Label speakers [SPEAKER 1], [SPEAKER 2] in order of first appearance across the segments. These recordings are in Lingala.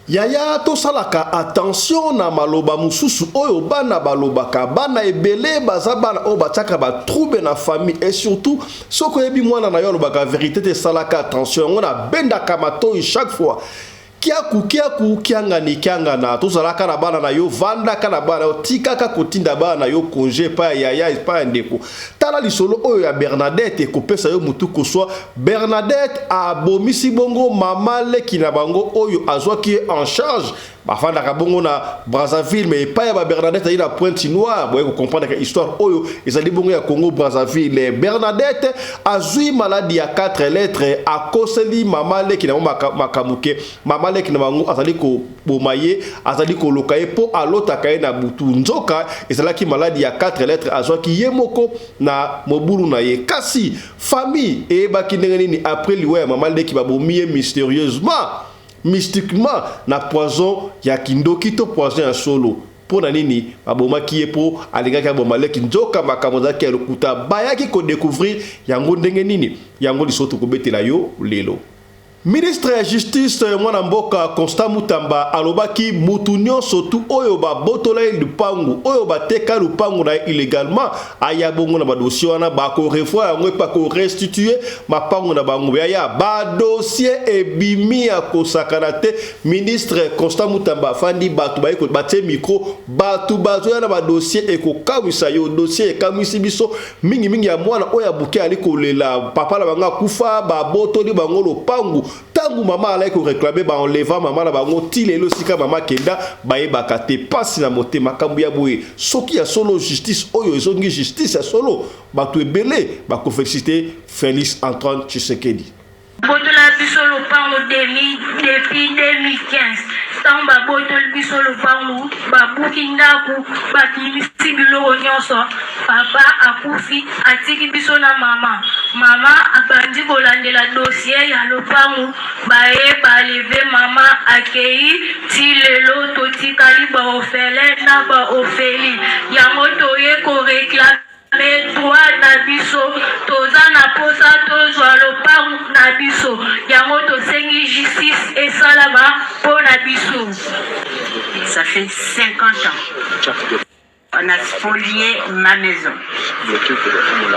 [SPEAKER 1] Yaya tosalaka attention na maloba mosusu oyo bana balobaka bana ebele baza bana oyo batiaka batrouble na famille et surtout soki oyebi mwana na yo alobaka verité te esalaka attention yango nabendaka matoi chaque fois Kiaku kiaku kiangani kiangana tozalaka na bana na yo vandaka na bana yo tikaka kotinda bana na yo konje epai ya yaya epai ya ndeko tala lisolo oyo ya bernadette ekopesa yo motu koswa bernadette abomisi bongo mama leki na bango oyo azwaki ye en charge bafandaka bongo na brazzaville me epai ya babernadette azali na pointe noire boye kokomprendaka histoire oyo ezali bongo ya congo brazzaville bernadette Azui maladi ya quatre lettre akoseli mama leki na bango maka, makambo ke mama leki na bango azali koboma ye, azali koloka ye mpo alotaka ye na butu. Nzoka ezalaki maladi ya quatre lettre azwaki ye moko na mobulu na ye. Kasi famille eyebaki ndenge nini apres liwa ya mama leki babomi ye mysterieusement, mystiquement na poison ya kindoki to poison ya solo? Mpo na nini babomaki ye? Mpo alingaki aboma leki, nzoka makambo ezalaki ya lokuta. Bayaki ko decouvrir yango ndenge nini? Yango lisolo tokobetela yo lelo. Ministre ya Justice, mwana mboka Constant Mutamba alobaki mutu nionso tu oyo ba botola ye lupangu, oyo ba teka lupangu na ye illegalement, aya bongo na ba dossiers wana ba ko revoir yango et pa ko restituer mapangu na bango. Yaya, ba dossiers ebimi ya kosakana te. Ministre Constant Mutamba afandi bato baye ko batie micro bato bazo ya na ba dossier ekokawisa yo dossier ekamwisi biso mingi mingi ya mwana oyo ya moke ali kolela papa na bango akufa babotoli bango lopangu ntango mama alaki koreklame ba enleva mama na bango ti lelo esika mama kenda bayebaka te mpasi na mote makambo ya boye soki ya solo justice oyo ezongi justice ya solo bato ebele bakofesite Felix Antoine Tshisekedi Botola
[SPEAKER 2] biso lopango demi depuis 2015 ntango babotoli biso lopango babuki ndako bakimisi biloko nyonso papa akufi atiki biso na mama mama abandi kolandela dossier ya lopango baye baleve mama akei ti lelo totikali baofele na baofeli yango toye koreklame Metroid na biso toza na posa tozwa lopangu na biso yango tosengi justice esalama mpo na biso ça
[SPEAKER 3] fait 50 ans on a spolié ma maison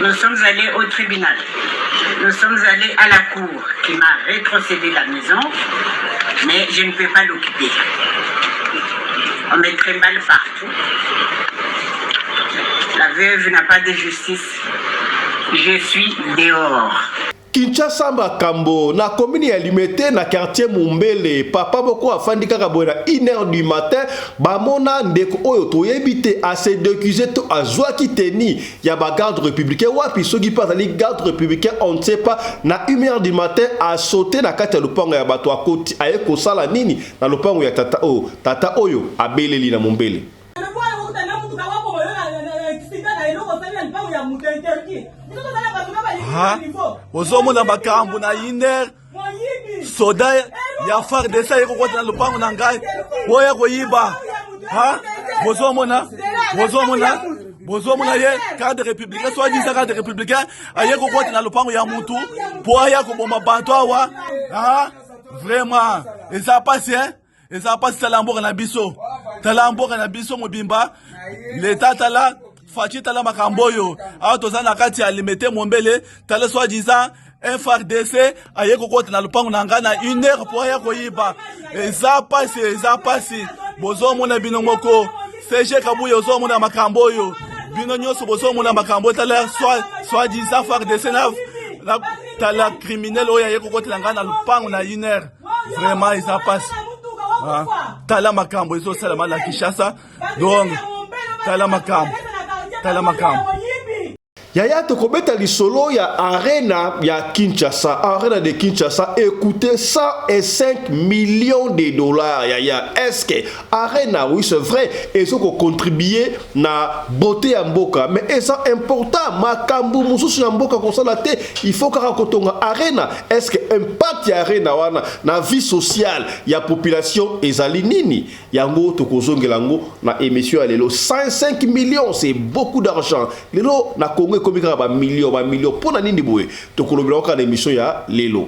[SPEAKER 3] nous sommes allés au tribunal nous sommes allés à la cour qui m'a rétrocédé la maison mais je ne peux pas l'occuper on me trimballe partout La veuve n'a pas de justice. Je suis dehors. Kinshasa
[SPEAKER 1] makambo na commune ya Limete na quartier Mumbele papa moko afandi kaka boye na 1h du matin bamona ndeko oyo toyebi te a se decuse to azwaki teni ya ba garde républicain wapi soki mpe azali garde républicain on ne sait pas na 1h du matin a sauté na kati ya lopango ya bato akoti aye kosala nini Na lopango ya tata oyo. Tata oyo abeleli na mombele.
[SPEAKER 4] Ha? Ozomona makambo na iner soda ya fardc aye kokota na lopango na ngai oyo ya koyiba ha bozomona bozomona bozomona ye cadre républicain soit disant cadre républicain aye kokota na lopango ya mutu mpo aya koboma bato awa ha vraiment eza pasi hein eza pasi tala mboka na biso tala mboka na biso mobimba leta tala faci tala makambo oyo awa toza na kati ya limete mombele tala soi disant frdc aye kokota na lopango na ngai na une heure mpo aya koyiba eza pasi eza pasi bozomona bino moko cg kabuya ozomona makambo oyo bino nyonso bozomona makambo tala soi disant frdc na tala criminel oyo aye kokotela ngai na lupango na iner vraiment eza pasi ah, tala makambo ezosalama na kinshasa donc tala makambo tala makambo
[SPEAKER 1] yaya tokobeta lisolo ya arena ya kinshasa arena de kinshasa ekoute 105 millions de dollars yaya eske Arena oui c'est vrai ezo ko contribuer na beauté ya mboka mais eza important makambu mususu ya mboka kosala te il faut kaka kotonga arena est ce que impact ya arena wana na vie sociale ya population ezali nini yango tokozongela yango na émission ya lelo 105 millions c'est beaucoup d'argent lelo na Congo ekomi kaka ba millions ba millions pona nini boye tokolobela kaka na émission ya lelo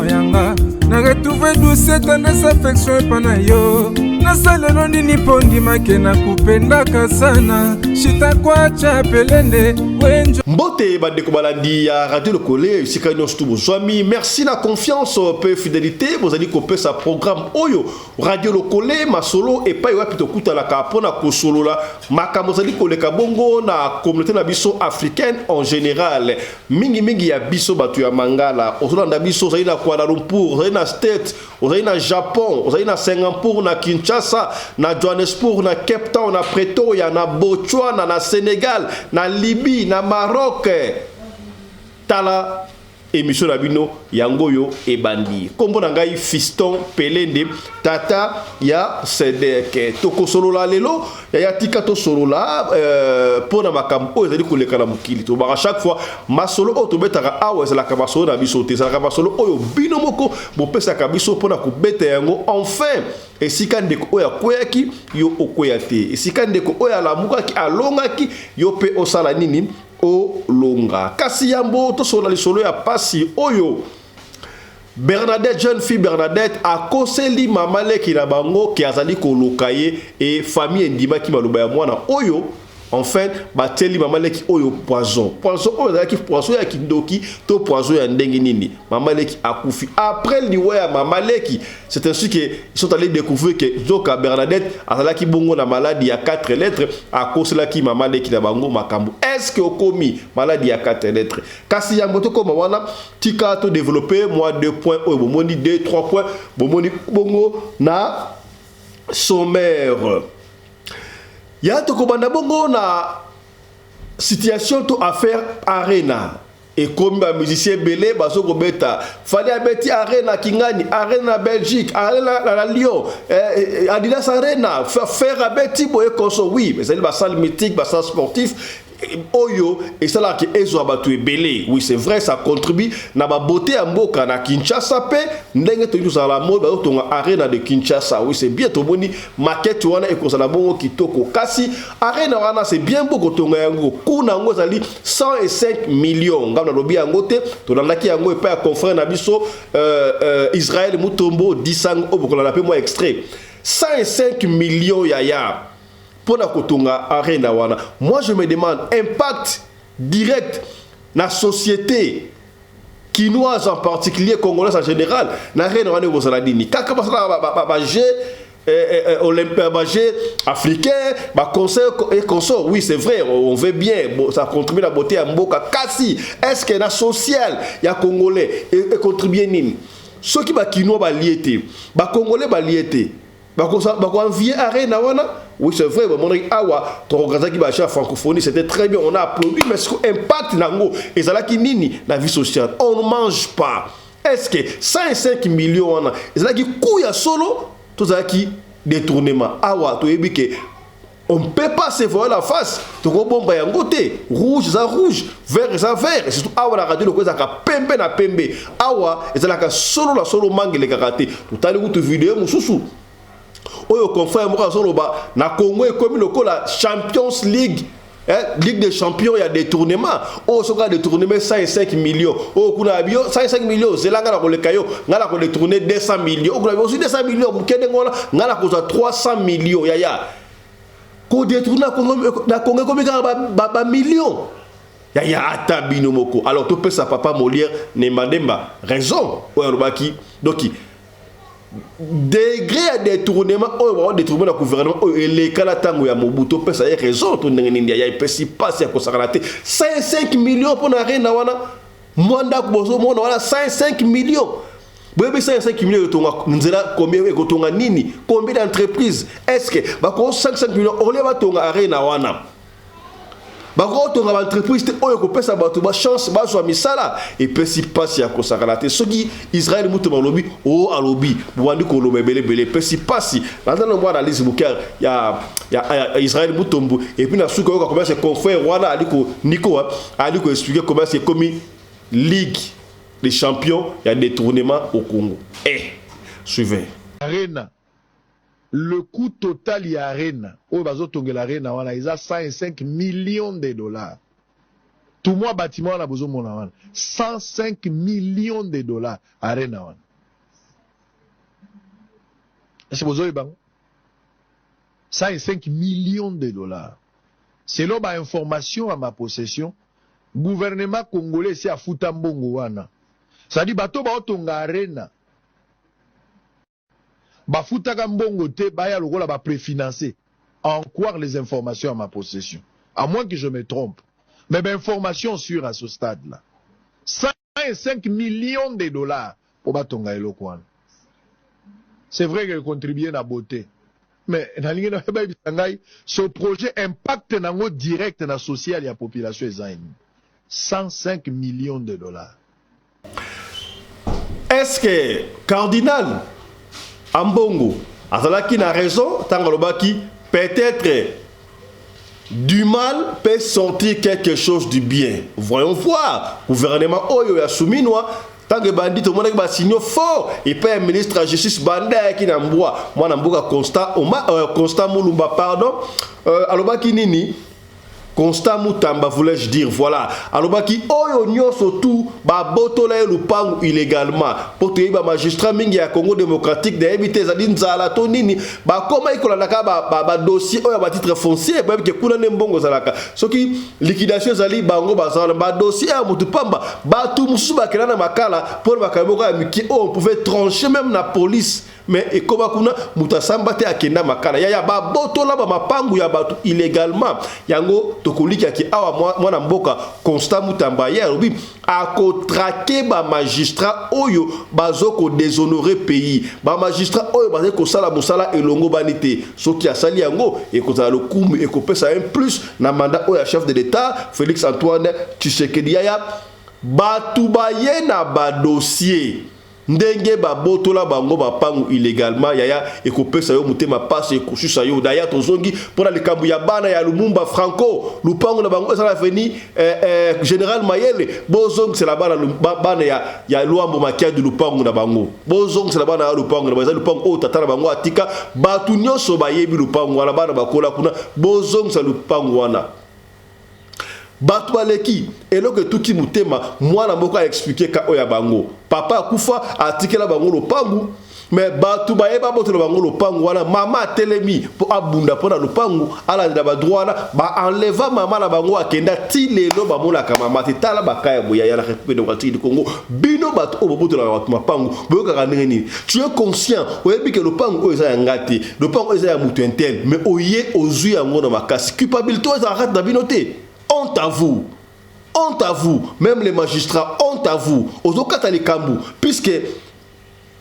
[SPEAKER 5] yanga na retrouve douce tendresse affection epa na yo nasalelo nini mpo ndimake na kupendaka sana shitakwacha pelende wenjo mbote bandeko
[SPEAKER 1] balandi ya radio lokole esika nyonso tu bozwami merci na confiance mpe fidelité bozali kopesa programme oyo radio lokole masolo epai wapi tokutanaka mpo na kosolola makambo ezali koleka bongo na communauté na biso africaine en général Mingi mingi ya biso bato ya Mangala, ozolanda biso, ozali na Kuala Lumpur, ozali na State, ozali na Japon, ozali na Singapour, na Kinshasa, na Johannesburg, na Cape Town, na Pretoria, na Botswana, na Senegal, na Libye, na Maroc. Tala emission na bino. Yango oyo ebandi. Kombo na ngai Fiston Pelende, tata ya Sedeke. Tokosolola lelo, yaya tika tosolola euh, mpo euh, na makambo oyo ezali koleka na mokili. Tobaka chaque fois masolo oyo tobetaka awa ezalaka masolo na biso te, ezalaka masolo oyo bino moko bopesaka biso mpo na kobeta yango enfin esika ndeko oyo akweyaki yo okweya te esika ndeko oyo alamukaki alongaki yo mpe osala nini olonga. Kasi yambo tosolola lisolo ya pasi oyo Bernadette jeune fille Bernadette akoseli mama leki na bango ke azali koloka ye e famille endimaki maloba ya mwana oyo en fait batieli mama leki oyo poison poison oyo ezalaki poison ya kindoki to poison ya ndenge nini mama leki akufi après liwa ya mama leki C'est ainsi que sont allés découvrir que Zoka Bernadette azalaki bongo na maladie ya 4 lettres akoselaki mama leki na bango makambo. Est-ce que okomi maladie ya 4 lettres? Kasi ya moto koma wana tika to développer moi deux points oyo bomoni deux trois points bomoni bongo na sommaire. Ya tokobanda bongo na situation to affaire arena Ekomi ba musiciens ebele bazo kobeta fali abeti arena kingani arena belgique arena na lyon eh, eh, adidas arena fer abeti boye koso oui ezali basale mythique basale sportif eh, oyo esalaka ezwa bato ebele oui c'est vrai ça contribue na babote ya mboka na kinshasa mpe ndenge toyei tozala na mode bazotonga arena de kinshasa oui c'est bien tomoni makete wana ekozala bongo kitoko kasi Arena wana c'est bien beau kotonga yango coût na yango ezali 105 millions ngai nalobi yango te tolandaki yango epai ya confrère na biso euh, euh, Israël Mutombo disango oyo bokolanda mpe mwa extrait 105 millions ya ya mpo na kotonga arena wana moi je me demande impact direct na société kinoise en particulier congolaise en général na arena wana ekozala nini kaka basala bajeu ba, ba, ba, ba, eh, eh, eh olympique euh, ba jeux africain ba conseil et consort oui c'est vrai on veut bien bon, ça contribue la beauté ya mboka kasi est ce que na social ya congolais e, e contribue nini soki ba kinois balie te ba congolais balie te bakoenvie arena wana oui c'est vrai bamonaki awa toorganisaki bacha ya francophonie c'était très bien on a applaudi mais impact na yango ezalaki nini na vie sociale on ne mange pas Est ce que 105 millions wana ezalaki coût ya solo to zalaki detournement? Awa to yebi que on ne peut pas se voir la face tokobomba yango te rouge eza rouge vert eza vert surtout awa na radio loko ezalaka pembe na pembe awa ezalaka solo na solo mangelekaka te totali kutu video mosusu oyo confrère moko azoloba na congo ekomi lokola champions league Eh, ligue des champions ya détournement oyo oh, soki adetourneme 105 millions oyo oh, kuna ya biyo 105 millions ozela ngai na koleka yo ngai na kodetourne 200 millions oyo oh, kuna ozwi 200 millions mokende ngona ngai na kozwa 300 millions yaya kodetourne na kongo ekomi kaka bamillion yaya ata bino moko alors topesa papa molière nembandemba raison oyo alobaki doki degre ya detournement oyo bao detournement na gouvernement oyo eleka na ntango ya mobu topesa ye raison to ndenge nini ya epesi mpasi ya kosakana te 55 million mpo na arena wana mwa ndako bozomona wana 55 million boyebi 55 million etonga nzela combien ekotonga nini combien d'entreprise est ce que bakoo 55 million ole batonga arena wana bakotonga baentreprise te oyo ekopesa bato bachance bazwa misala epesi mpasi ya kosakana te soki israel mutu balobi o oh, alobi bobandi koloba ebelebele epesi mpasi naza na mwa analyse moke ya, ya, ya israel mutombo epuis na suka oyoka komiasi confrère wana ali konikoa ali koexplike komiasi ekomi ligue de champion ya détournement au congo e eh, suivez arena Le
[SPEAKER 6] cout total ya arena oyo bazo tongela arena wana eza 105 millions de dollars tu mua batiment wana bozo mona wana 105 millions de dollars arena wana esi bozo yebango 105 millions de dollars selon ba information ya ma possession gouvernement congolais esi afuta mbongo wana c'est-à-dire bato baotonga arena bafutaka mbongo te baya lokola ba prefinance en croire les informations ya ma possession à moins que je me trompe mais ba informations sur à ce stade là 105 millions de dollars po batonga eloko wana c'est vrai que contribuer na beauté mais nalingi na bayebisa ngai ce projet impact nango direct na social ya population eza nini 105 millions de dollars
[SPEAKER 1] Est-ce que cardinal Ambongo azalaki na raison ntango alobaki peut-être du mal peut sortir quelque chose du bien voyons voir gouvernement oyo ya suminwa ntango ebandi tomonaki basignaux fort epai ya ministre ya justice banda ayaki na mbwa mwana mboka constant, Oma, euh, constant mulumba pardon euh, alobaki nini Constant Mutamba voulais-je dire voilà alobaki oyo nionso tout ba botola ye lupangu illegalement po toyebi ba magistrats mingi ya Congo democratique nayebi te ezali nzala to nini bakomaki kolanda kaka ba, ba, ba dossier oyo ya ba titres fonciers boyebi ke kuna nde mbongo ezalaka soki liquidation ezali bango baza wana ba dossier ya mutu pamba batu mosusu bakenda na makala pona makambo moko ya mike oyo on pouvait trancher meme na police mais ekoba kuna moto asamba te akenda makala yaya babotola bamapangu ya bato illegalement yango tokolikia ke awa mwana mboka constant mutamba ye alobi akotrake bamagistrat oyo bazo kodeshonore pays bamagistrat oyo bazali kosala mosala elongobani te soki asali yango ekozala lokumu ekopesa un plus na mandat oyo ya chef de l'etat félix antoine tshisekedi yaya bato baye na badossier Ndenge ba botola bango mapangu illegalement yaya ekopesa yo motema pasi ekosusa yo daya tozongi pona likambo ya bana ya lumumba franco lupangu na bango eza na avenue eh, eh, general mayele bozongisela bana bana ya, ya luambo makiadi lupangu na bango bozongisela bana ya lupangu na bango eza lupangu oyo tata na bango atika bato nyonso bayebi lupangu wana bana bakola kuna bozongisa lupangu wana Batu baleki eloko etuti mutema mwana moko a explique cas oyo ya bango papa akufa atikela bango lopangu mais batu baye babotela bango lopangu wana mama atelemi po abunda pona lopangu alandela ba droit wana ba enleva mama na bango akenda ti lelo bamonaka mama te tala ba cas ya boye ya la Republique democratique du Congo bino batu oyo bobotelaka batu mapangu boyokaka ndenge nini tu es conscient oyebi ke lopango oyo eza ya nga te lopango eza ya moto intel mais oye ozwi yango na makasi culpabilité oyo ezala kati na bino te honte à vous honte à vous même les magistrats honte à vous ozokata likambo puisque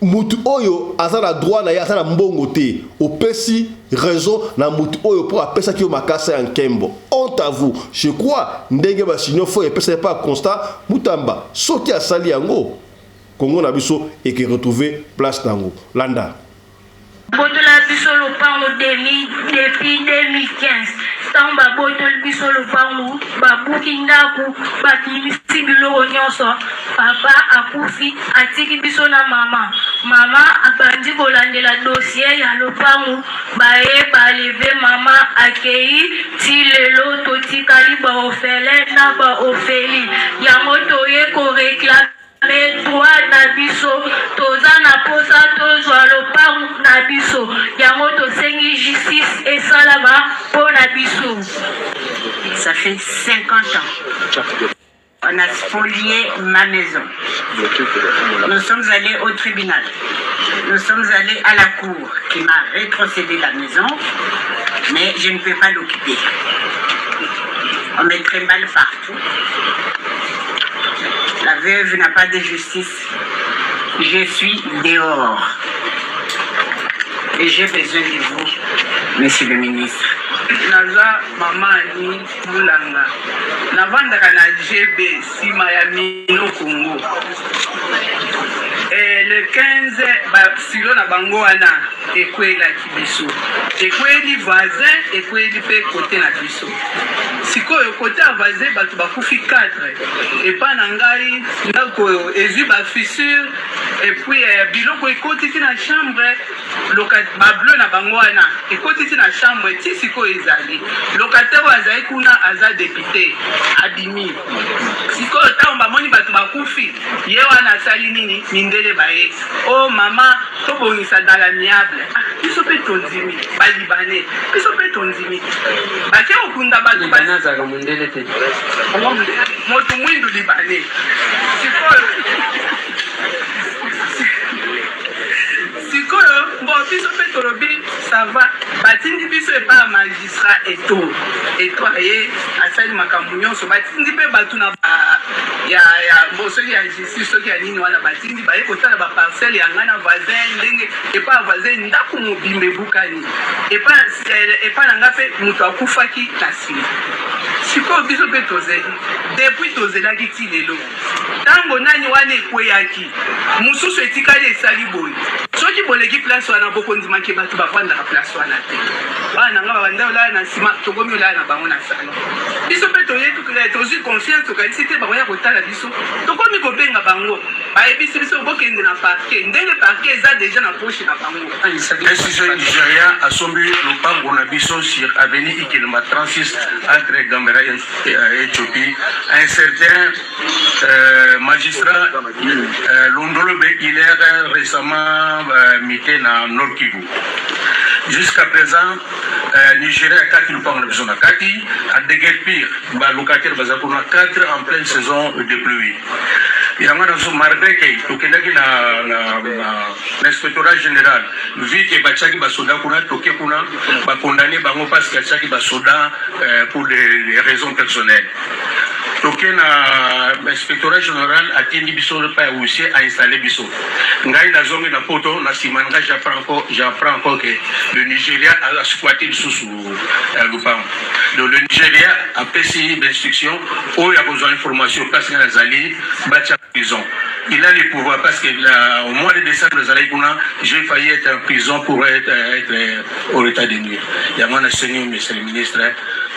[SPEAKER 1] mutu oyo aza na droit na ye aza na mbongo te opesi raison na mutu oyo mpo apesaki yo makasa ya nkembo honte à vous je crois ndenge basinio fo epesaki mpa constat mutamba soki asali yango Congo na biso eke retrouver place nango. Landa. Botola
[SPEAKER 2] biso lopango demi depuis 2015 tango ba botoli biso lopango ba buki ndaku ba bimisi biloko nionso papa akufi atiki biso na maman maman abandi kolandela dossier ya lopango baye ba leve maman akeyi ti lelo totikali ba orphelin na ba orphelie yango toye ko reclame Territoire na biso toza na posa tozwa lopangu na biso yango tosengi justice esalama mpo na biso. Ça
[SPEAKER 3] fait 50 ans. On a spolié ma maison. Nous sommes allés au tribunal. Nous sommes allés à la cour qui m'a rétrocédé la maison, mais je ne peux pas l'occuper. On met très mal partout. La veuve n'a pas de justice. Je suis dehors. Et j'ai besoin de vous, monsieur le ministre. naza
[SPEAKER 7] mama ani mulanga navandaka na gb nsima ya mino kongo eh, le 15 basilo na bango wana ekwelaki biso ekweli voisin ekweli mpe kote na biso Sikoyo kote ya voisin bato bakufi 4 epa na ngai ndako oyo ezwi ba fissure epuis eh, biloko ekoti ti na chambre bableu na bango wana ekoti ti na chambre ti sikoyo ezali lokatere oyo azali kuna aza depute abimi sikoyo ntango bamoni bato bakufi ye wana asali nini mindele baye o oh, mama tobongisa dalamiable ah, biso mpe tondimi balibane biso mpe tondimi Batie kokunda bato ba- libana azalaka mondele te moto mwindu libane sikoyo sikoyo bo biso mpe tolobi sava batindi biso epai ya magistrat eto eto aye asali makambo nyonso batindi mpe bato na ba- ya ya bo soki ya justice soki ya nini wana batindi baye kotala baparcelle ya ngai na voisin ndenge epai ya voisin ndako mobimba ebukani epa na sel epa na nga mpe moto akufaki na nsima sikoyo biso mpe tozeli depuis tozelaki ti lelo ntango nani wana ekweyaki mosusu etikali esali boye soki boleki place wana bokondima ke bato bafandaka place wana te bana na nga babanda olala na nsima tokomi olala na bango na salon biso mpe toyetukila tozwi confiance tokanisi te bakoya kotala biso tokomi kobenga bango bayebisi biso bokende na parke ndenge parke eza deja na poche na bango Precision
[SPEAKER 8] Nigeria asombi lopango na biso sur avenue Ikelma 36 entre Gambera et euh, Ethiopie. Un certain euh, magistrat euh, Londolo Bekiler récemment euh, mité na Nord Kivu. Jusqu'à présent, euh, Nigeria a 4 lopango na biso na kati, a deguerpir ba locataires baza kuna 4 en pleine saison de pluie. yango nazo marbre ke tokendaki na, na, na, na inspectorat général vu ke batiaki basoda kuna toke kuna bakondane bango parce que atiaki basoda euh, pour des, des raisons personnelles toke na inspectorat général atindi biso epai ya huissier ainstalle biso ngai nazongi na poto na nsima na ngai japran encore ke le nigéria asquati lisusu ya lupango donc le nigeria apesi bainstruction oyo ya kozwa information place ngai nazali batya prison il a le pouvoir parce que la, au mois de décembre ezalaki kuna j'ai failli être en prison pour être, être euh, au état de nuire yango nasengi monsieur le ministre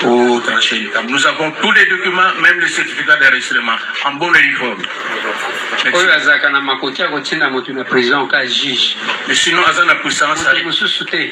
[SPEAKER 8] au trancher likambo nous avons tous les documents même le certificat d'enregistrement en bonne et due forme oyo azalaka na makoki ya kotinda moto na prison ka juge mais sinon aza na puissance mosusu te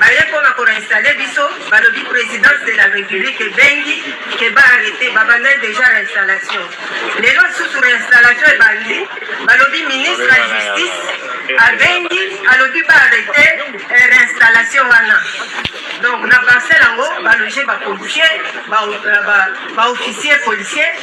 [SPEAKER 9] Baye pona ko installer biso balobi presidence de la republique ebengi ke ba arrete babanda deja reinstallation lelo susu reinstallation ebandi balobi ministre ya justice abengi alobi ba arrete eh, reinstallation wana donc na parcelle yango baloge ba policier ba officier policier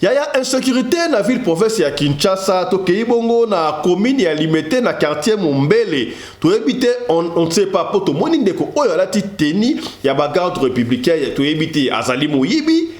[SPEAKER 1] Yaya insecurite na ville province ya Kinshasa tokeyi bongo na commune ya Limete na quartier Mombele toyebi te on, on sait pas po tomoni ndeko oyo alati teni ya ba garde républicain toyebi te azali moyibi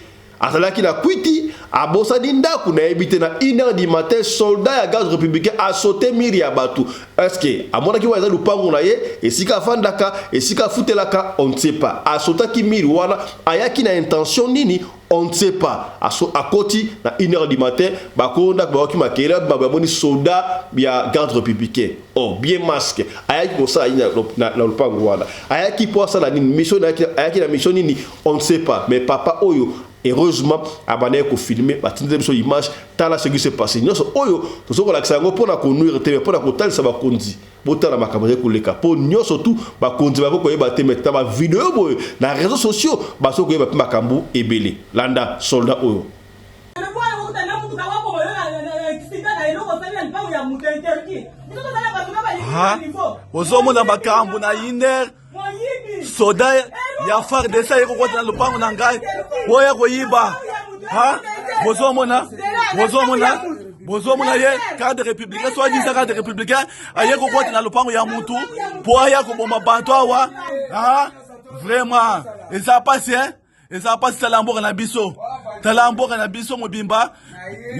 [SPEAKER 1] azalaki na kwiti abosani ndako nayebi te na 1 heure du matin soldat ya garde républicain asote mire ya bato eske amonaki wana eza lupango na ye esika afandaka esika afutelaka on ne sait pas asotaki mire wana ayaki na intention nini On ne sait pas. Aso akoti na 1 heure du matin, ba konda ba waki makele ba ba boni soda ya garde républicain. Oh, bien masque. Ayaki ko sala ina na na lupango wana. Ayaki po asala nini? Mission na yaki ayaki na mission nini? On ne sait pas. Mais papa oyo heureusement abandaki ko filmer ba tindela biso image tala ce qui se passe. Nionso oyo tozo ko lakisa yango pona ko nuire te mais pona ko talisa ba konzi. botala makambo ezali koleka mpo nyonso tu bakonzi bakoki koyeba te meta bavideo boye na réseau sociaux basoki koyeba mpe makambo ebele landa soldat oyo
[SPEAKER 4] ozomona makambo na iner soda ya fardc aye kokota na lopango na ngai po ya koyiba bozomona bozomona bozomona ye cadre républicain soit disant cadre républicain aye kokota na lopango ya mutu po aya koboma bato awa vraiment eza pasi hein eza mpasi tala mboka na biso tala mboka na biso mobimba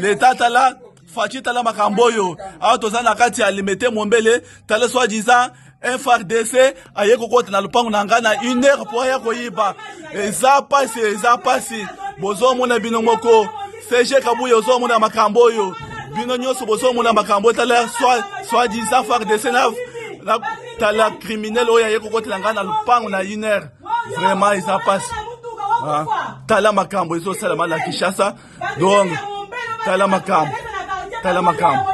[SPEAKER 4] leta tala faci tala makambo oyo awa toza na kati ya limete mombele tala soi disant frdc aye kokota na lopango na ngai na une heure mpo aya koyiba eza mpasi eza mpasi bozomona bino moko cg kabuya ozomona makambo oyo bino nyonso bozomona makambo tala soi disant frdc na tala criminel oyo aye kokotela ngai na lopango na une heure vraiment eza pasi ah, tala makambo ezosalama na kinshasa donc tala makambo tala makambo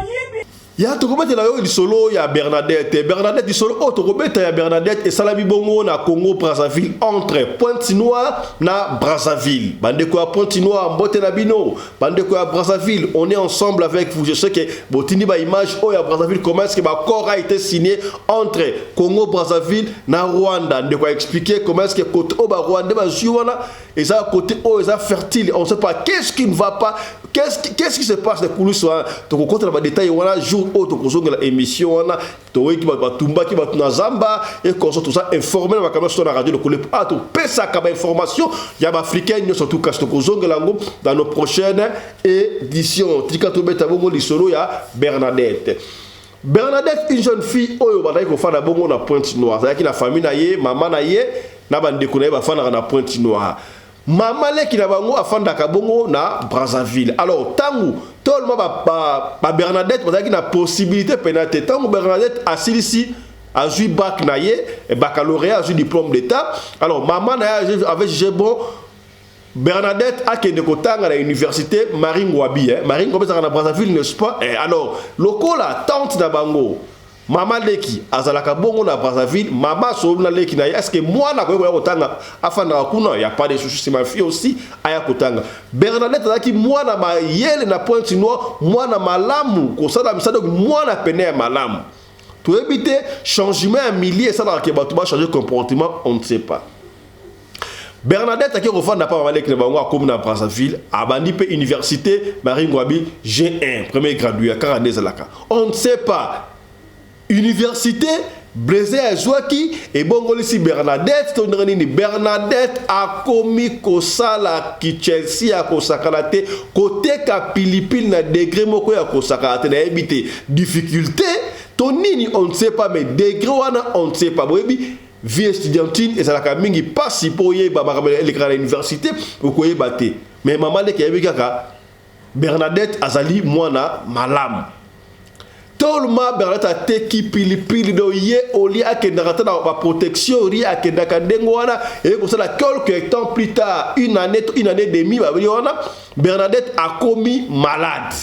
[SPEAKER 1] ya tokobetela yo lisolo ya bernadette bernadette lisolo oyo tokobeta ya bernadette esalami bongo na congo brazzaville entre pointe noire na brazzaville bandeko ya pointe noire mbote na bino bandeko ya brazzaville on est ensemble avec vous je sais que botindi baimage oyo ya brazzaville comment est-ce que baccord a été signé entre congo brazzaville na rwanda ndeko aexplike comment est-ce que côté oyo barwandais bazwi wana eza côté oyo eza fertile on sait pas qu'est-ce qui ne va pas qu'est-ce qui, qu qui se passe na kulusu wana tokokota na badetail wana jour oyo tokozongela émission wana toyeki bato batumbaki bato na zamba ekonso toza informe na makambo nyonso to na radio lokole a ah, topesaka bainformation ya baafricain nyonso tu kasi tokozongela yango dans nos prochaine édition tika tobeta bongo lisolo ya bernadette bernadette une jeune fille oyo bandaki kofanda bongo na pointe noire azalaki na famille na ye mama na ye na bandeko na ye bafandaka na pointe noire Mama leki na bango afandaka bongo na Brazzaville. Alors tangu tolma ba, ba, ba Bernadette bazalaki na possibilité pena te. Tangu Bernadette asilisi azui bac na ye, baccalauréat azui diplôme d'état. Alors mama na ye avait jugé bon Bernadette akende kotanga na université Marie Ngwabi eh. Marie Ngwabi ezalaka na Brazzaville n'est-ce pas eh, alors lokola tante na bango Mama leki azalaka bongo na Brazzaville, mama asolobi na leki na ye eske mwana akoki koya kotanga afandaka kuna ya pas de souci c'est ma fille aussi aya kotanga. Bernadette azalaki mwana mayele na pointe noire, mwana malamu kosala misala mwana pene ya malamu. Toyebi te changement ya milieu esalaka ke bato ba changer comportement, on ne sait pas. Bernadette ake kofanda pa mama leki na bango akomi na Brazzaville abandi pe université Marie Ngwabi G1 premier gradué ya kaka nde ezalaka on ne sait pas université Blaise azwaki ebongolisi Bernadette to ndenge nini Bernadette akomi kosala kichelsi ya kosakana te koteka pilipili na degre moko ya kosakana te nayebi te difficulté to nini on ne sait pas mais degre wana on ne sait pas boyebi Vie estudiantine ezalaka mingi pasi mpo oyeba makambo elekaka na universite okoyeba te mais mama leki ayebi kaka Bernadette azali mwana malamu tolma Bernadette ateki pilipili do ye olie akendaka ata na baprotection rie akendaka ndenge wana eye kosala quelque temps plus tard une année to une année demi babeli wana Bernadette akomi malade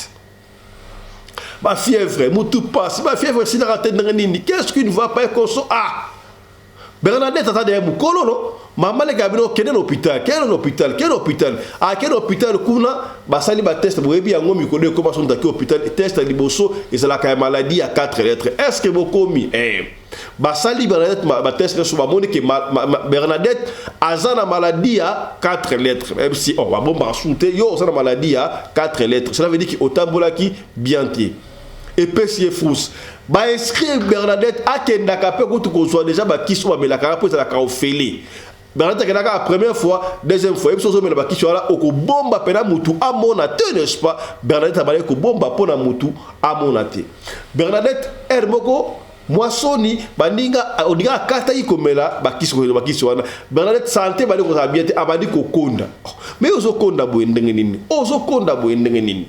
[SPEAKER 1] ba fièvre mutu pasi ba fièvre esilaka te ndenge nini qu'est ce qui ne va pas ekoso ah bernadette aza deye mokolo no mama leka ya bino kende na hôpital kende na hôpital kende na hôpital akende na hôpital kuna basali bateste boyebi yango mikolo ekoma soki moto ake hôpital teste ya liboso ezalaka ya maladie ya 4 lettre est ce que bokomi eh. basali Bernadette ba test nyonso bamoni ke ma, ma, ma, Bernadette aza na maladie ya 4 lettres même si oh, babombaka susu te yo oza na maladie ya 4 lettres cela veut dire ke otambolaki bien te epesi ye frousse bainscrire Bernadette akendaka mpe kutu kozwa deja bakisi oyo bamelaka mpo ezalaka ofele Bernadette akelaka la première fois, deuxième fois, ebiso ozomela bakisi wana okobomba pena mutu amona te n'est-ce pas? Bernadette abale kobomba mpo na mutu amona te. Bernadette heure moko mwa soni baninga oninga akataki komela bakisi komela bakisi wana Bernadette sante bali kozala bien te abandi kokonda. Oh, mais ozokonda boye ndenge nini? Ozokonda boye ndenge nini?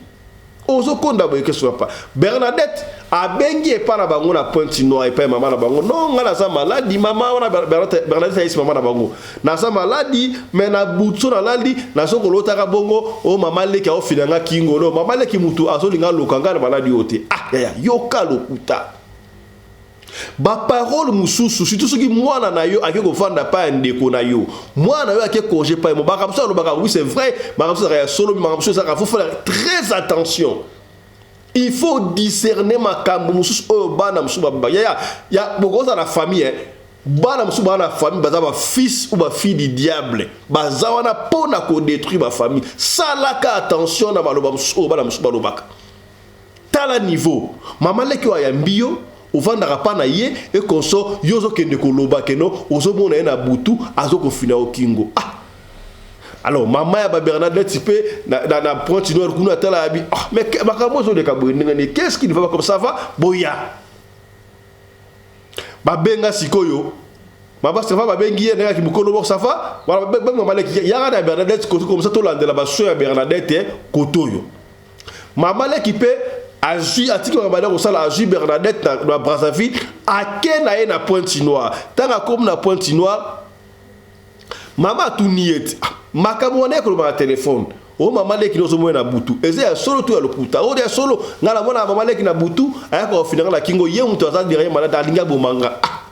[SPEAKER 1] Ozo konda boye kesu papa. Bernadette abengi epa na bango na pointe noire epa mama na bango non nga naza maladi mama wana Bernadette ayesi mama na bango naza maladi mais na butso na lali nazo kolotaka bongo o oh, mama leki aofina nga kingo no mama leki mutu azolinga aloka nga na maladi oyo te ah yaya yoka lokuta Ba parole mususu surtout soki mwana na yo ake kofanda pa ya ndeko na yo mwana na yo ake conge pa mo makambo mosusu alobaka oui c'est vrai makambo mosusu ezalaka ya solo makambo mosusu ezalaka faut faire très attention il faut discerner makambo mosusu oyo bana mosusu babeba ya ya ya bokozala na famille eh? bana mosusu baa na famille baza ba fils ou ba fille du diable baza wana mpo na kodétruire ba famille salaka attention na maloba mosusu oyo bana mosusu balobaka Tala niveau maman leki oyo ayambi yo ovandaka pa na ye et consort yo ozo kende ko loba que non ozo mona ye na butu azo ko fina yo kingo ah alors maman ya ba Bernadette pe na, na, na pointe noire kuna atala abi ah mais makambo ezo leka boye ndenge nini qu'est-ce qui ne va pas comme ça va boya babenga sikoyo Mama Stefan babengi ye ndenge kimokolo boko safa wala babengi mama leki yaka na Bernadette koto komisa tolandela baso ya Bernadette koto yo Mama leki mpe azwi atiki babanda ya kosala azwi Bernadette na, na Brazzaville ake na ye na Pointe Noire. Ntango akomi na Pointe Noire, mama atuni ye ete ah, makambo wana ekoloba na telefone o oh, mama leki nozomona na butu eza ya solo to ya lokuta oyo oh, ya solo ngai namona mama leki na butu ayaka kofina ngai na kingo ye moto aza derrière malade alingi aboma ngai ah.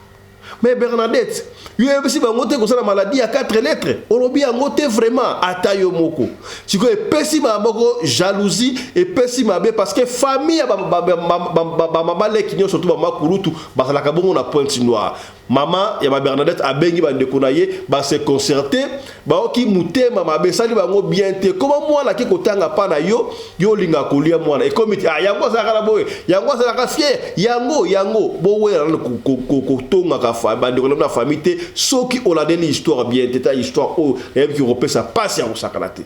[SPEAKER 1] Mais Bernadette, yo yebisi bango te kosala maladie ya 4 lettres. Olobi yango te vraiment ata yo moko. Siko epesi ba moko jalousie, epesi mabe parce que famille ya ba ba ba ba ba ba mama leki nyo surtout ba makulutu bazalaka bongo na pointe noire. Mama ya ba Bernadette abengi ba ndeko na ye ba se concerter Baoki mutema mabe sali bango bien te koma mwana ke kotanga pa na yo yo olinga kolia mwana ekomi te ah yango azalaka na boye yango azalaka fier yango yango bowela nano kotongaka fa bandeko na bino ya famille te soki olandeli histoire bien te ta histoire oyo eyebiki kopesa mpasi ya kosakana te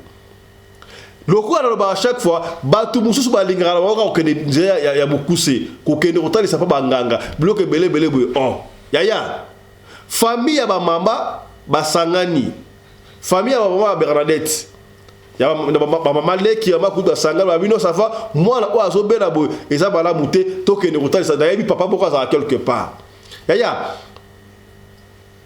[SPEAKER 1] lokola nalobaka chaque fois bato mosusu balingaka na baoka kokende nzela ya mokuse kokende kotalisa mpa banganga biloko ebele ebele boye on oh, yaya Famille ya ba mama basangani famille ya ba mama ya Bernadette ya ba mama leki ya makutu basangani ba bino safa mwana oyo azobela boye eza malamu te tokende kotalisa nayebi papa moko azala quelque part yaya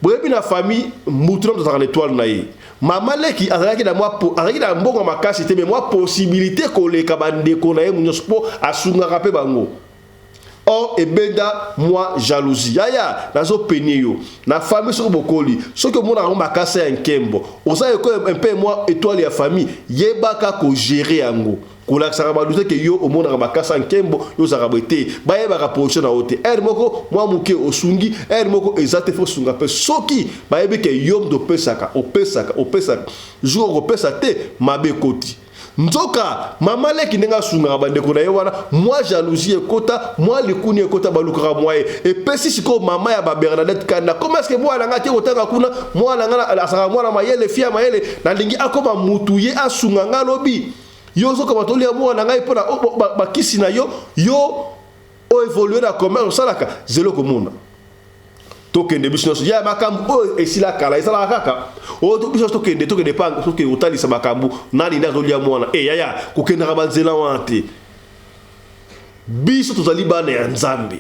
[SPEAKER 1] boyebi na famille mutu na moto azalaka na etoile na ye mama leki azalaki na mwa azalaki na mbongo makasi te me mwa possibilité koleka bandeko na ye nyonso mpo asungaka mpe bango Or ebeda mwa jalousie. Yaya nazo penie yo na famille soki bokoli soki omona yango makasa ya nkembo oza eko un peu mwa etoile ya famille yebaka ko gerer yango kolakisaka ba doute ke yo omonaka makasa nkembo yo ozalaka boye te bayebaka position na yo te heure moko mwa moke osungi heure moko eza te faut sunga mpe soki bayebi ke yo mdo opesaka opesaka opesaka jour okopesa te mabe ekoti nzoka mama leki ndenge asungaka bandeko na ye wana mwa jalousie ekota mwa likuni ekota balukaka mwa ye epesi sikoyo mama ya babernadette kanda koma eske mwana na ngai ake kotanga kuna mwana na ngai asaka mwana mayele fi ya mayele nalingi akoma mutu ye asunga ngai alobi yo ozoka batoli ya mwana na ngai mpo na bakisi na yo yo oevolue na commerce osalaka zelo komona tokende biso nyonso ya makambo oyo esila kala ezalaka kaka oyo oh, biso tokende tokende pa tokende kotalisa makambo nani nde azolia mwana e eh, yaya kokendaka banzela wana te biso tozali bana ya nzambe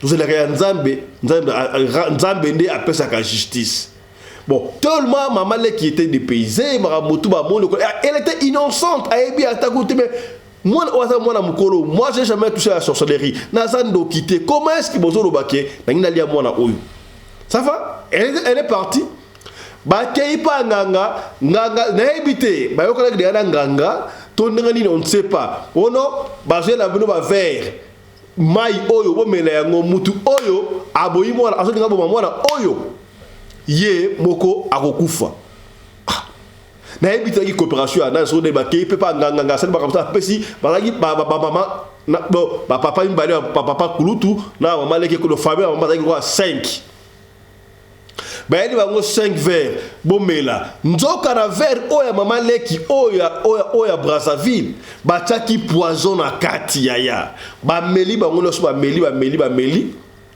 [SPEAKER 1] tozalaka ya nzambe nzambe nzambe nde apesaka justice bon tellement mama leki était dépaysée makambo tu bamoni eh, elle était innocente ayebi ata kutu mais Mwana oyo aza mwana mukolo, moi j'ai jamais touché à la sorcellerie. Naza ndoki te. Comment est-ce que bozo loba ke nangi nalia mwana oyo? Ça va? Elle, elle est partie. bakei mpa nganga nganga nayebi te bayokanaki deya na nganga to ndenge nini on ne sait pas ono bazweli na bino bavere mai oyo bomela yango mutu oyo aboyi mwana azolinga boma mwana oyo ye moko akokufa nayebi tezalaki coopération ya nani soki nde bakei mpe mpa nganganga asali makambo sana apesi bazalaki bamama bon bapapa mibale bapapa kulutu na mama leke kono famille ya mama bazalaki lokola 5 bayeli bango 5 verre bomela nzoka na verre oyo ya mama leki oyo ya brazzaville batyaki poison na kati yaya bameli bango nyonso bameli bameli bameli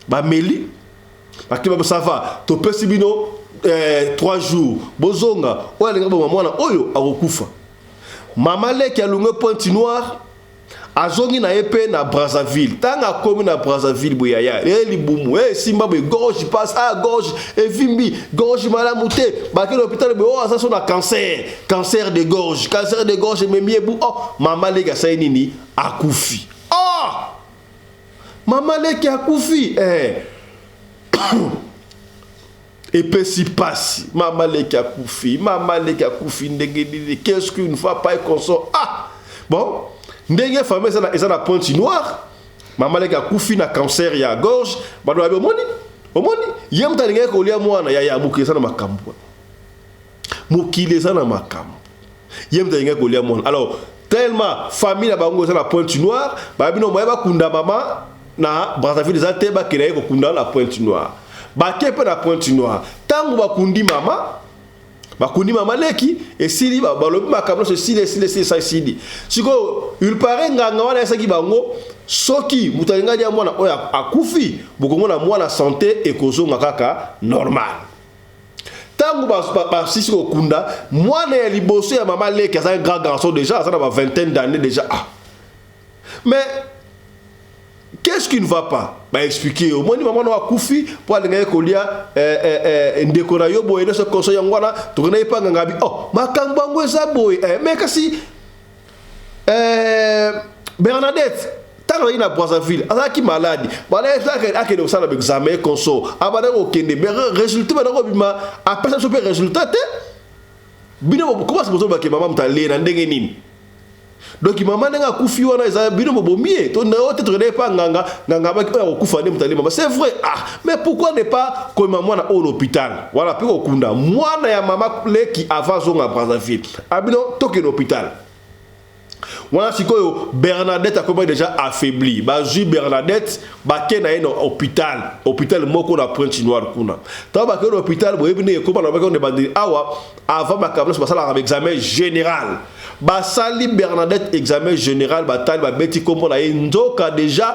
[SPEAKER 1] bameli bakeba bo ça va topesi bino eh, 3 jours bozonga oyo alinga boma mwana oyo akokufa mama leki alungue pointe noire azongi na ye mpe na brazzaville ntango akomi na brazzaville boye yaya e libumu e esimba boye gorge passe a ah, gorge evimbi gorge malamu te bake na hôpital boye o oh, aza so na cancer cancer de gorge cancer de gorge ememi ebu o oh, mama leki asali nini akufi Mama leki akufi eh. epesi pasi mama leki akufi mama leki akufi ndenge nini qu'est-ce qu'une fois pas consort ah bon ndenge famille eza na eza na pointe noire mama leki akufi na cancer ya gorge balobi omoni omoni ye moto alingaki kolia mwana ya ya moke eza na makambo mokili eza na makambo ye moto alingaki kolia mwana alors tellement famille na bango eza na pointe noire bayebi no moye bakunda mama na brazzaville eza te bakela ye kokunda na pointe noire bake mpe na pointe noire ntango bakundi mama bakundi mama leki esili balobi makambo nyonso esili esili esili esa esili sikoyo ulpare nganga wana ayesaki bango soki moto alingi alia mwana oyo akufi bokomona mwana sante ekozonga kaka normal Tango ba basisi ko kunda mwana ya liboso ya mama leki aza un grand garçon dejà aza na ba vingtaine d'années dejà ah mais qu'est-ce qui ne va pas ba expliquer yo moni mama no akufi po alingaki kolia eh, eh, eh, ndeko na yo boye nyonso koso yango wana tokendaki mpa nganga bi oh makambo yango eza boye eh, mais kasi Euh, Bernadette ntango azalaki na brazzaville azalaki maladi akende kosala baexame conso abandaki kokende résultat bandaki kobima apesa biso mpe résultat te bino komasa bozobake mama moto alee na ndenge nini donki mama ndenge akufi wana eza bino bobomi ye to nao te tokendaki mpa nganga nganga abaki oyo akokufa nde moto alee mama c'est vrai ah mais pourquoi ne pas komema mwana oyo na hôpital wana mpe kokunda mwana ya mama leki avant azonga brazzaville Abino tokende hopital. Wana sikoyo Bernadette akomaki deja affaibli. Bazwi Bernadette bake na ye na hopital, hopital moko na Pointe Noire kuna. Tango bakei na hopital boyebi ndenge ekoma na baki na ebandeli awa avant makambo nyonso basalaka examen general. Basali Bernadette examen general batali babeti kombo na ye nzoka deja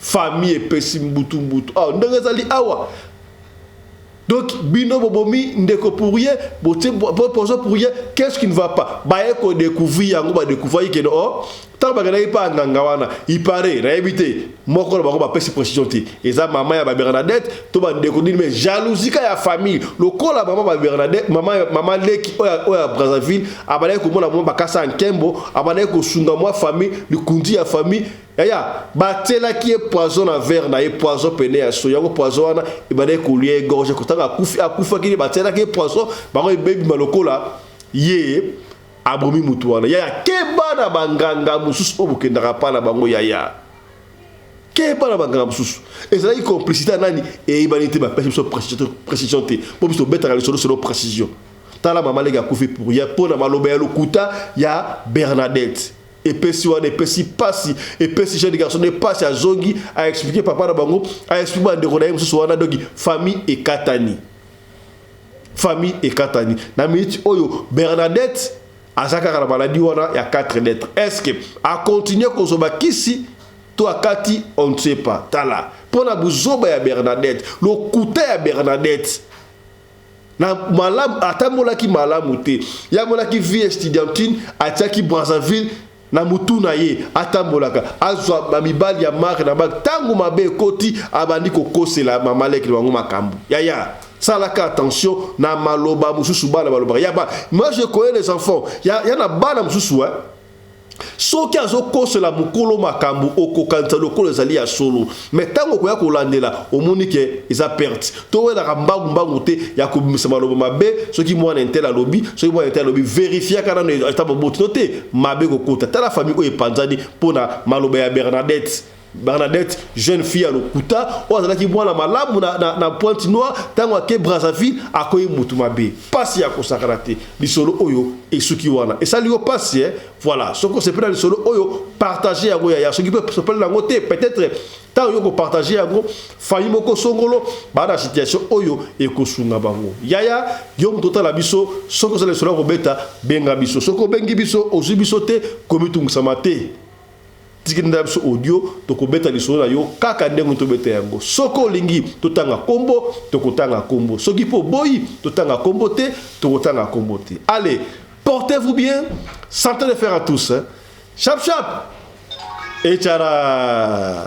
[SPEAKER 1] Famille epesi mbutu mbutu awa ndenge ezali awa donc bino bobomi ndeko pourrier botie pozo pourrier qu'est-ce qui ne va pas baye ko découvrir yango ba découvrir que oh ntango bakendaki mpa nganga wana ipare nayebi te moko na bango bapesi précision te eza mama ya babernadette to bandeko nini me jalousika ya famille lokola mama babernadette mama, mama leki oyo ya brazzaville abandaki komona mwa bakasa ya nkembo abandaki kosunga mwa famille likunzi ya famille Yaya, batielaki ye poison na verre na ye, poison pene ya soyi. Yango poison wana ebandaki kolia ye gorge, kotanga akufi, akufaki nde batielaki ye poison, bango ebebima lokola ye abomi motu wana. Yaya, keba na banganga mosusu oyo bokendaka pa na bango yaya. Keba na banganga mosusu. Ezalaki complicité ya nani? Eyebani te, bapesi biso precision te. Po biso tobetaka lisolo selon precision. Tala mama leki akufi pour rien, po na maloba ya lokuta ya Bernadette. epesi wana epesi pasi epesi jeune garçon nde pasi azongi aexplike papa na bango aexplike bandeko na ye mosusu wana donki famille ekatani famille ekatani na minute oyo bernadette aza kaka na maladi wana ya 4 lettre estce akontinue kozwa bakisi to akati on ne sait pas tala mpo na buzoba ya bernadette lokuta ya bernadette na malamu atambolaki malamu te ye amonaki vie estudiantine atiaki brazzaville na motu na ye atambolaka azwa bamibali ya mare na bak ntango mabe ekoti abandi kokosela mamaleki na bango makambo yaya salaka attention na maloba mosusu bana balobaka ya ba moi je connais les enfants ya, ya na bana mosusu eh? soki azokosela mokolo makambo okokanisa lokola ezali ya solo me ntango okoya kolandela omoni ke eza perte towelaka mbangu mbangu te ya kobimisa maloba mabe soki mwana entele alobi soki mwana entele alobi verifiaka nano eta moboti to te mabe kokota tala famille oyo epanzani mpo na maloba ya bernadette Bernadette, jeune fille à lokuta, oyo azalaki mwana malamu na, na, na pointe noire, tango ake Brazzaville, akoyi mutu mabe. Pasi ya kosakana te. Lisolo oyo esuki wana. Esali yo pasi eh? Voilà. Soko sepela lisolo oyo, partager yango yaya. Soki pe sepela nango te, peut-être tango yo ko partager yango, famille moko songolo ba na situation oyo ekosunga bango. Yaya, yo mutu otala biso, soko sala lisolo ya kobeta, benga biso. Soko bengi biso, ozui biso te, komitungisa mate. Tikela biso audio tokobeta lisolo na yo kaka ndenge tobeta yango. Soki olingi totanga kombo, tokotanga kombo. Soki po boyi totanga kombo te, tokotanga kombo te. Allez, portez-vous bien. Santé de fer à tous. Hein? Chap chap. Et tchara.